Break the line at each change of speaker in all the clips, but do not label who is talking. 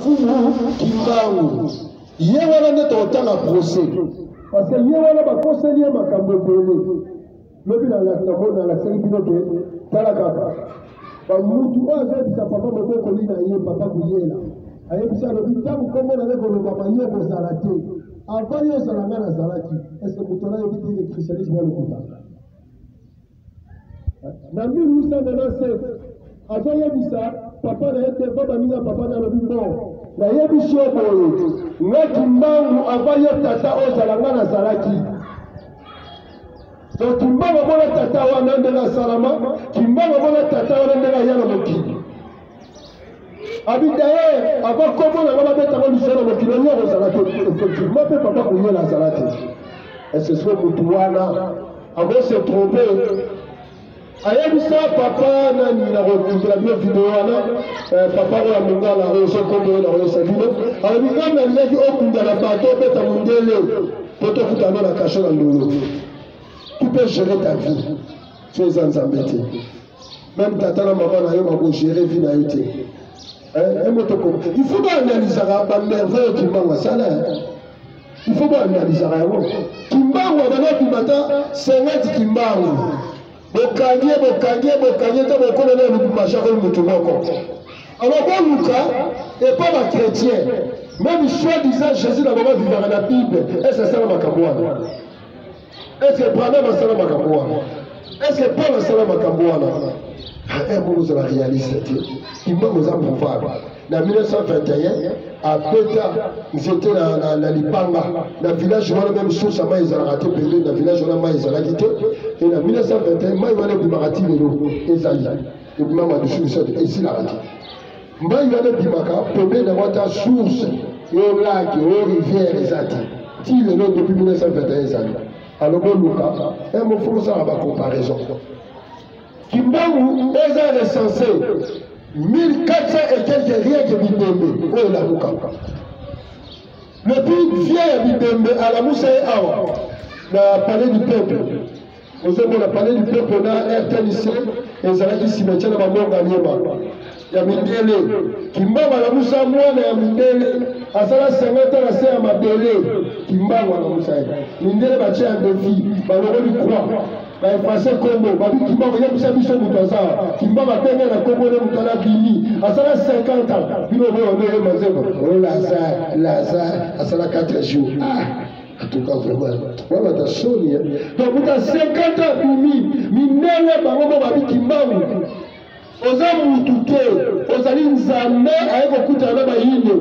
Fumu Kimbangu ye wana nde tokotanga procès parce que ye wana bakoseli ye makambo ebele lobi namoni alakisaki bino te tala kaka bamutu oyo azoyebisa papa mobokoli na ye papa kuyela ayebisa alobi ntango nkombo na ye kolobama yo kozala te avant yo ozala ngai nazalaki estce moto nayebi te ke christianisme ya lokuta Na 1897, azoyebisa papa na ye te mpo baninga papa na alobi mbo nayebisi yo boye nga kimbangu ava yo tata ozala nga nazalaki donc kimbangu amona tata wana ndenge asalama kimbangu amona tata wana ndenge aya na mokili abi dayer ava kombo na nga babetaka lusa na mokili yango akozala te effectivement mpe papa kuyela azala te esesco motu wana akose trompe ayebisa papa nani nakokundela bino video wana eh, papa oyo ya mongala oyo sokombo oyo nakoyesa bino alobi nga nalingaki okunda na bato obeta mondele mpo tokutana na kasho na ndolo tu peux gérer ta vie so eza nzambe te meme tata na mama na yo bakogere vi na yo te emotoko eh, il faut baanalisaka banerve oyo kimbangu asala il faut baanalisaka yango kimbangu abanda obima ata 50 kimbangu bokangi ye bokangi ye bokangi ye nta bokona na lubumbashi akoli motu moko alors boluka epa bachrétien meme soi disant jésus na bango avivaka na bible ese asala makambo wana Est-ce que Branham asala makambo wana? Est-ce que Paul asala makambo wana? Eh, moko ozala réaliste te. Imam oza prouvable. Na 1921 abeta nzete na, na, na libanga na village wana meme source ya mai ezalaka te pembeni na village wana mai ezalaki te e na 1921 mai wana ebimaka ti lelo ezali ebimaka lisusu esilaka te mbai wana ebimaka pembeni yango ata source yo lake yo rivière eza te ti lelo depuis 1921 ezali alobi oluka eh, mofumu osala bacomparaison kimbangu eza recense 1400 et quelque rien ke bibembe oyo elamukaka le plus vieux ya bibembe alamusa ye awa na palais du peuple ozomona palais du peuple na rtnc ezalaki cimetière na bamorga nyema ya mindele kimbangu alamusa mwana ya mindele asala sengata na se ya mabele kimbangu alamusa ye mindele batye ya defi balongoli croix baefase kombo babi kimbangu yebisa biso moto aza kimbangu abenge na kombo ne moto ala bimi asala 50 ans bino boyo nde ye mazembo o lazare lazare asala 4 jours ah. En tout cas, vraiment, voilà ta soni. Hein. Donc, vous avez 50 ans, Bimi, Minela, Bango, Babi, Kimbaou. oza mutu te ozali nzambe aye kokutana na bayindo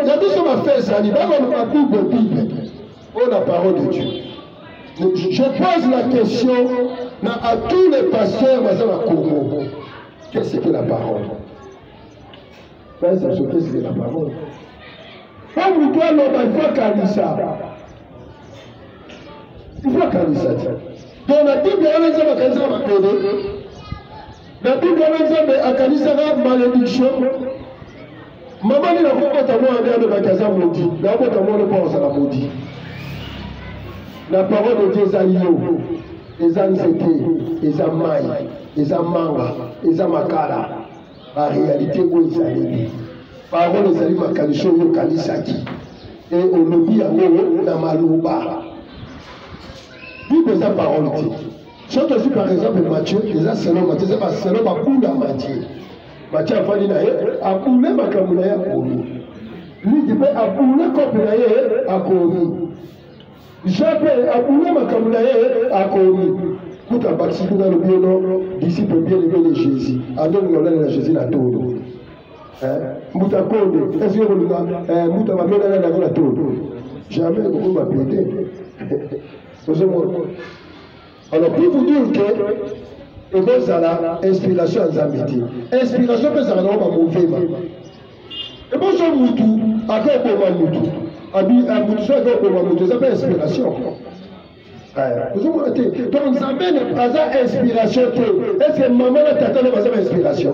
ya biso bafe ezali bakoloba bible bible oyo na parole de dieu je pose la question na à tous les pasteurs baza na congo qu'est ce que la parole Pesa sokisi de la parole. Tango moto aloba ifo akanisa. Ifo akanisa te. Donc na Bible wana Nzambe akanisaka mapele. Na Bible wana Nzambe akanisaka malediction. Mama nini akobota mwana nde alobaki aza modi. Nakobota mwana mpo azala modi. La parole de Dieu eza yo. Eza nzete, eza mai, eza manga, eza makala. barealité oyo ezaleli parole ezali makanisi oyo okanisaki e olobi yango na maloba bible eza parole te soki tozwi par exemple mathieu eza selo mathieu eza baselo bakunda mathieu mathieu afandi na ye abule makambo na ye akomi lidi mpe abule kope na ye akomi Jean pe abula makambo na ye akomi kuta bakisi kuna alobi yo no disciple bien aimé de Jésus azolinga olanda na Jésus na tolo mbuta konde eske kolinga mbuta babelana yango na tolo jamais ekokoma pede ozomona alors pour vous dire que ekozala inspiration ya nzambe te inspiration mpe ezalaka nango bamovema eboso mutu ake oboma mutu mutu so ake oboma mutu eza mpe inspiration ozomona te donc nzambe aza inspiration te est ce que mama na tata nde baza ba inspiration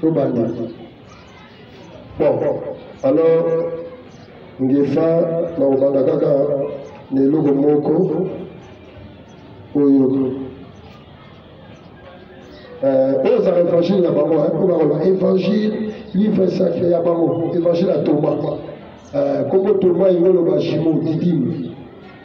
tobanda bon alors ngefa nakobanda kaka na eloko moko oyo euh, oyo ezala évangile na bango po bakoloba évangile livre sacré ya bango évangile ya toma euh, kombo toma yango oloba jimo didime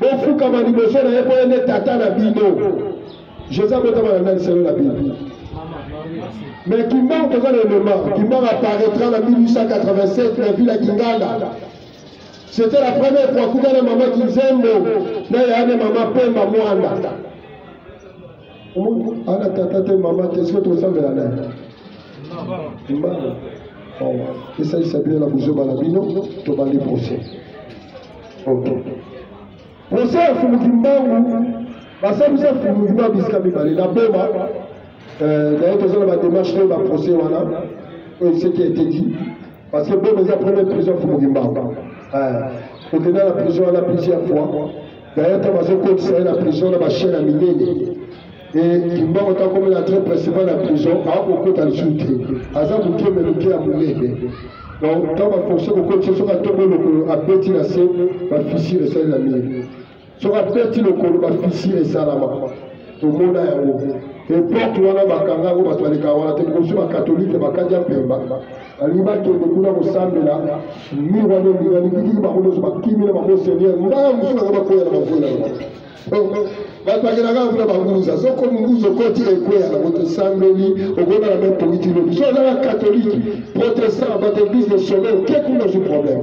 bofukama liboso na ye mpo ye nde tata na bino jésus abotama na nani selo na bino me kimbangu toza na elema kimbangu apparaîtra na 1887 na ville ya kingala c'était la première fois kuta na mama kinzembo na yaya na mama pemba mwanda Mungu ana tata te mama te sio tosambela naye mbano esalisa bino na buzoba na bino tobandi procès ok procès ya fumuki mbangu basalisa fumuki mbangu bisika mibale na boma euh, naye toza na bademarche to baprocès wana oyo seki eteki parce que boma eza première prison fumuki mbangu euh, okenda na prison wana plusieurs fois D'ailleurs, ntango bazokotisa ye na prison na bashien ya minene kimbango ntango akomela entrée principal ya prison akokota lisusu te aza moke me moke ya monene donc ntango baforce kokotisa soki atombo lokolo abeti na se bafisire esali na mire soki abeti lokolo bafisire esalama tomona yango epoke wana bakanga yango bato baleka wana te bokozwi bakatolike bakadi ya mpemba balingi bakende kuna kosambela mir wana elinga likitiki bango nyonso bakimi na bango seigneur mbaa mosusu nanga bakwela na bakwela bato bakelaka kuna banguza soko munguza okoti ekweya na moto esambeli okona na meme politiki lobi so ozala katolike protestant bato eglise de sommet oke kuna ozwi problème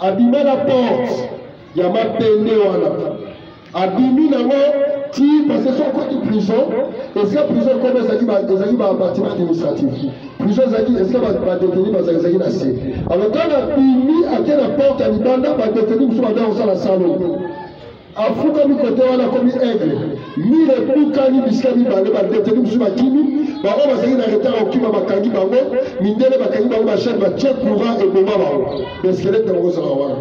abima na porte ya mapende wana abimi nango ti parce so akoti prison esika prison ekoma ezalaki babatiment administratif prison ezalaki esika badeteni bazalaki na se alors ntango abimi ake na porte ya libanda badeteni mosusu banda kosala salon afukami kote wana akomi aigle mire ebukani bisika mibale bandeteni mosusu bakimi bango bazali na retard kokima bakangi bango mindele bakangi bango bashane batie courant eboma bango beskelete yango kozala wana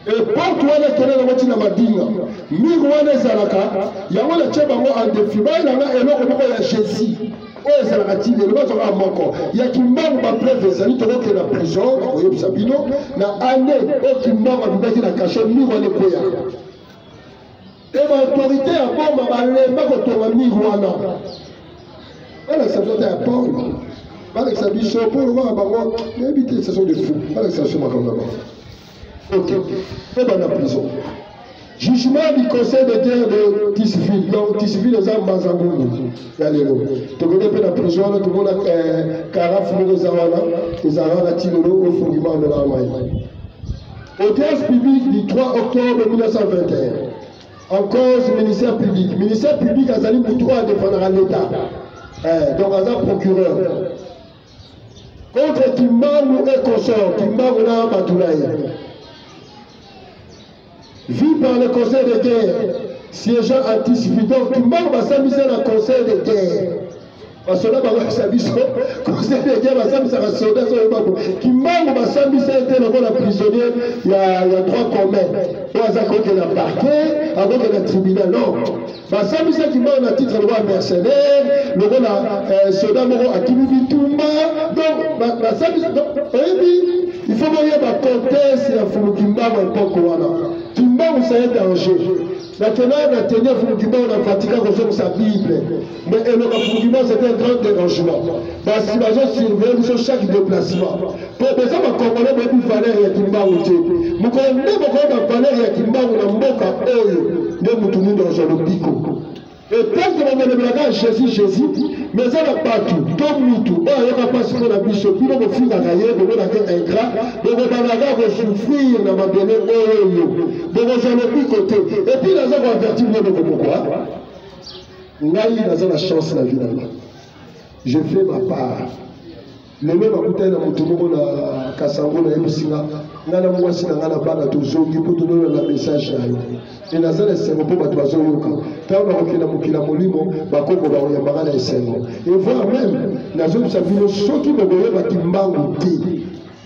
eporte wana ekende nango ntina madinga mire wana ezalaka yango natye bango andefi bayelanga eloko moko ya jésus oyo ezalaka ti lelo bazwaka moko ya kimbangu bapreve ezali tokokende na prison koyebisa bino na ane oyo kimbangu abimaki na kasho miro wana ekweya e baautorité ya boma balemba kotonga miro wana balakisa biso ata ya paul balakisa biso paul kaka bango nayebi te saison de fou balakisa biso makambo na bango Ok, eba na prison. Jugement du conseil de guerre de Tisville. Donc Tisville eza Mazangungu ya lelo. Tokende mpe na prison wana tomona karafu eh, moko eza wana ezalaka na tinolo oyo fungima amela mai. Audience publique du 3 octobre 1921. En cause ministère public. Ministère public azali motu oyo adefendaka l'État. Eh, donc aza procureur. contre kimbangu et consort kimbangu na bato na ye vu par le conseil de guerre siégeant anticipe donc kimbangu basambisa na conseil de guerre basoda bakoyebisa biso conseil de guerre basambisaka soda soyo bango kimbangu basambisa ye te lokola prisonnier ya, ya droit commun oyo aza kokenda parquet akokenda tribunal non basambisaki mbao na titre lokola mercenaire lokola euh, soda moko akimi bitumba donc basambisi oyebi il faut boyeba contexte ya fulu kimbangu epoke wana kimbangu ça est danger nakendaka na teni ya fulu kimbangu na vatican kozongisa bible mais eloka fulu kimbangu c'est un grand dérangement basi bazosurveille biso chaque déplacement mpo boza bakongole boyebi valeur ya kimbangu te mokolo nde bokoyeba valeur ya kimbangu na mboka oyo nde motu nini azwa lobiko etanke bamelobelaka jésus jésus mais eza na bato to mutu oyo ayoka mpasi mpo na biso bino bofingaka ye bomonake ingrat bokobanaka kosouffrir na mabele oyo bokozwa lobiko te epuis naza koavertir bino bokomokwa ngai naza na chance na vie na ngai je fais ma part lelo nakutani na moto moko na kasango nayebisi nga ngai na mwasi na ngai na bana tozongi mpo tolona na message na yo e naza na esengo mpo bato bazoyoka ntango nakokenda mokili ya molimo bakoko bakoyamba ngai na esengo evoir meme nazoyebisa bino soki bokoyeba kimbangu te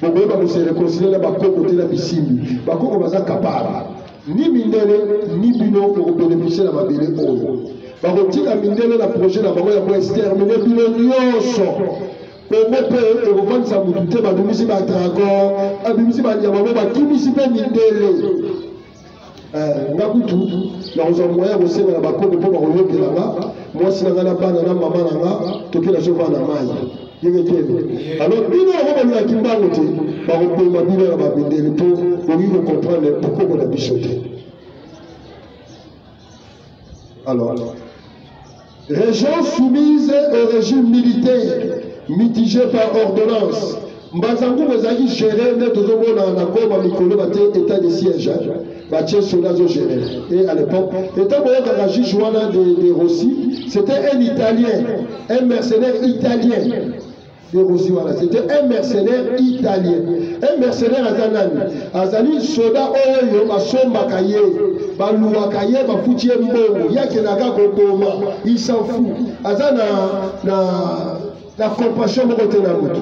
bokoyeba koserekonsilie na bakoko te na bisimbi bakoko baza kapara ni mindele ni bino okobeneficie na mabele oyo bakotika mindele na projet na bango ya koextermine bino nyonso kongo mpe ekofandisa motu te babimisi badragon babimisi banyama mo bakimisi mpe mindele eh, nga kutu nakozwa moyen ya kosenga na bakomi mpo bakoyokela nga mwasi na nga na bana na mama na nga tokenda sovaa na mai yeketele alors bino yango balingaki mbango te bakoboma bino na babundeli mpo bokoki kocomprendre bokoko na biso te alors région soumise au régime militaire mitigé par ordonnance mbanza ngubu ezalaki géré nde tozomona na goma mikolo bate état de siège Batie solo azo gérer. Et à l'époque, étant boyaka la juge wana de, de Rossi, c'était un Italien, un mercenaire italien. De Rossi wana, c'était un mercenaire italien. Un mercenaire aza nani? Azali soda oyo basombaka ye, baluwaka ye, bafuti ye mbongo, ye akendaka koboma, il s'en fout. Aza na, na, na compassion moko te na moto.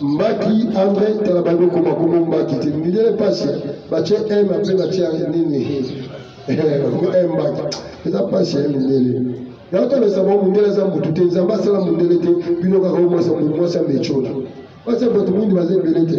mbaki andre tala bandi okoma koma mbaki te mindele mpasi batye m mpe batya nini eh, mbaki eza mpasi ya mindele yango tolesa bango mondele aza motu te nzambe asala mondele te bino kaka omwasa motu mwasi amecola basi ya bato mingi baza ebele te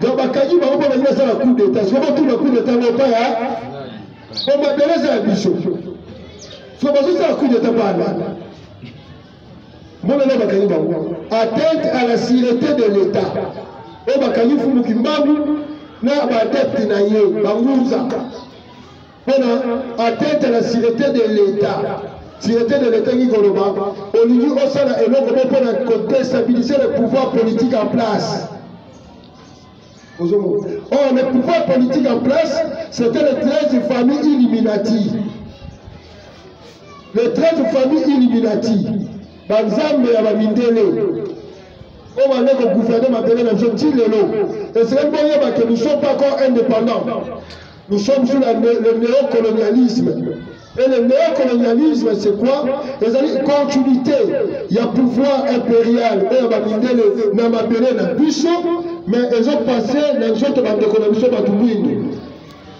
donc bakangi bango mpo balingi basala coup d'état siko batuna coup d'état ngo epai ya po mabele eza ya biso siko bazosala coup d'état mpo alanda monana bakangi bango atteinte à la sûreté de l'état oyo bakangi fumuki mbangu na baadepte na ye bangunza pona atteinte la sûreté de l'État sûreté de l'État qui koloba olingi osala eloko mo pona kodestabiliser le pouvoir politique en place ozomona or oh, le pouvoir politique en place c'était les 13 familles illuminati les 13 familles illuminati banzambe ya bamindele oyo bande kogouverne mabele na biso nti lelo esengeli boyeba ke nous sommes pas encore indépendant Nous sommes sous la, le néocolonialisme. Et le néocolonialisme, c'est quoi Les une continuité. Il y a pouvoir impérial, il y a Mindele, Namabele, Nabusso, mais ils ont passé dans les autres bandes d'économie,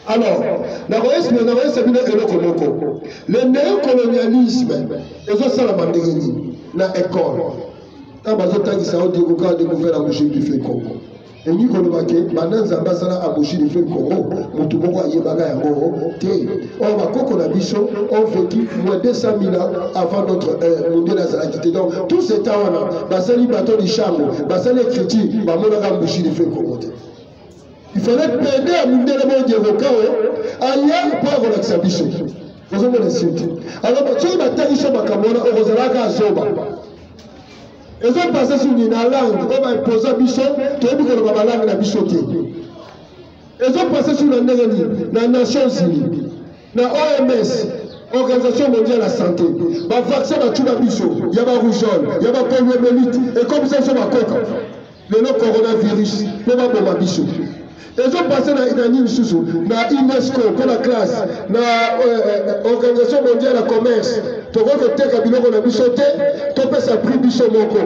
alors nakoyesi na nakoyesa bino eloko moko le néocolonialisme ezosalama ndenge nini na ekole ntango bazotangisa odiokokaa decouvert la mouche du fait congo elingi koloba te banda nzambe asala aboshi de feu congo motu moko ayebaka yango te oyo bakoko na biso on vécu moins 200 000 ans avant notre heure mondele azalaki te donc tout ce temps wana basali bato lishango basali écriture bamonaka mbushi de feu congo te il fallait pede ya mondele bongekoka oyo aya mpo akolakisa biso ozomona sirte alors soki batangisa makambo wana okozalaka azoba ezo base sur nini na langue oyo baimposa biso toyebi koloba balangue na biso te ezo pase sur na ndenge nini na nations unis na oms organisation mondiale ya santé bavaccin batuna biso ya barougeole ya bapoliomelite ekomisa biso bakoka lelo coronavirus mpo baboma biso ezopase na nani lisusu na unesco mpo na classe na euh, euh, organisation mondiale ya commerce tokoki koteka biloko na biso te topesa prix biso moko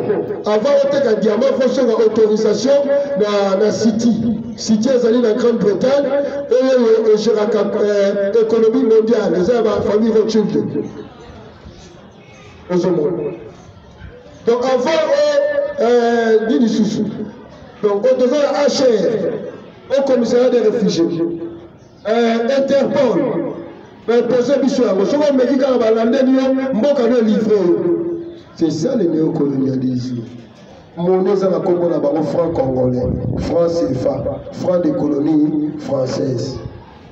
avant oteka diamant fosoka autorisation na, na city city ezali na grande bretagne oyo egeraka euh, économie mondiale eza ya bafamille rothschild ozomona donc avant o oh, euh, nini susu donc oyo toza na hr au commissariat des réfugiés euh, interpol bapose biso yango soki omeki kaka balandeli yo mboka no livre oyo c'est ça le néocolonialisme moni eza na nkombo na bango franc congolais franc cefa franc de colonie française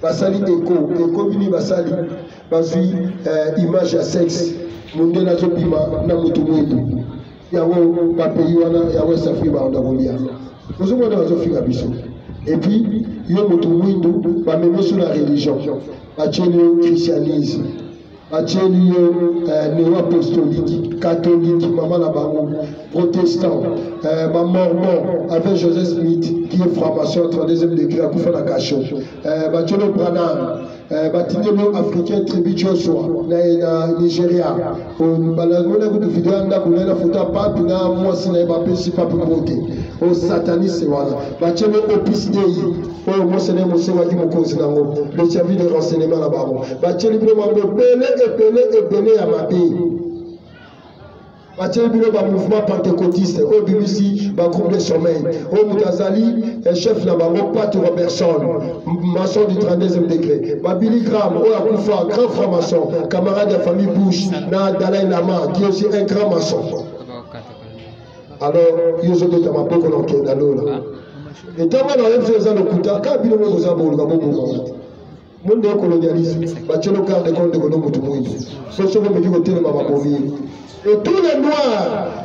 basali eko eko bini basali bazwi eh, image ya sexe mondele azobima na motu mwetu yango bapays wana ya west afrique baanda kolia ozomona bazofinga biso epuis yo motu mwindu bamemeso na religion batieli yo christianisme batieli ye eh, neo apostoliki katoliki mama na bango protestant eh, bamormon avec joseph smith qui est franc-maçon 32e degré akufa na kasho eh, batieli yo branam batindeli yo africain tribu joshua na nigeria balangona kutu video ya ndako naye na foto ya papi na mwasi na ye bapesi papi mbote o sataniste wana batieli yo opus dei oyo mose nde mosengaki mokonzi na yango le service de renseignement na bango batyeli bino bango ebele ebele ebele ya mabe batyeli bino bamouvement pentecotiste oyo bimisi bagroupe de sommeil oyo moto azali eh, chef na bango pat robertson maçon du 32e degré babili gram oyo akufa grand franc maçon camarade ya famille bush na dalai lama qui aussi un grand maçon alors yo ozobeta maboko na okenda lola ah. etanga na yo mpe eza lokuta kaka bino moko oza boluka bobomama te monde ya kolonialise batielo kar de konde kono motu moindo so soko omeki kotelema babomi ye etule noir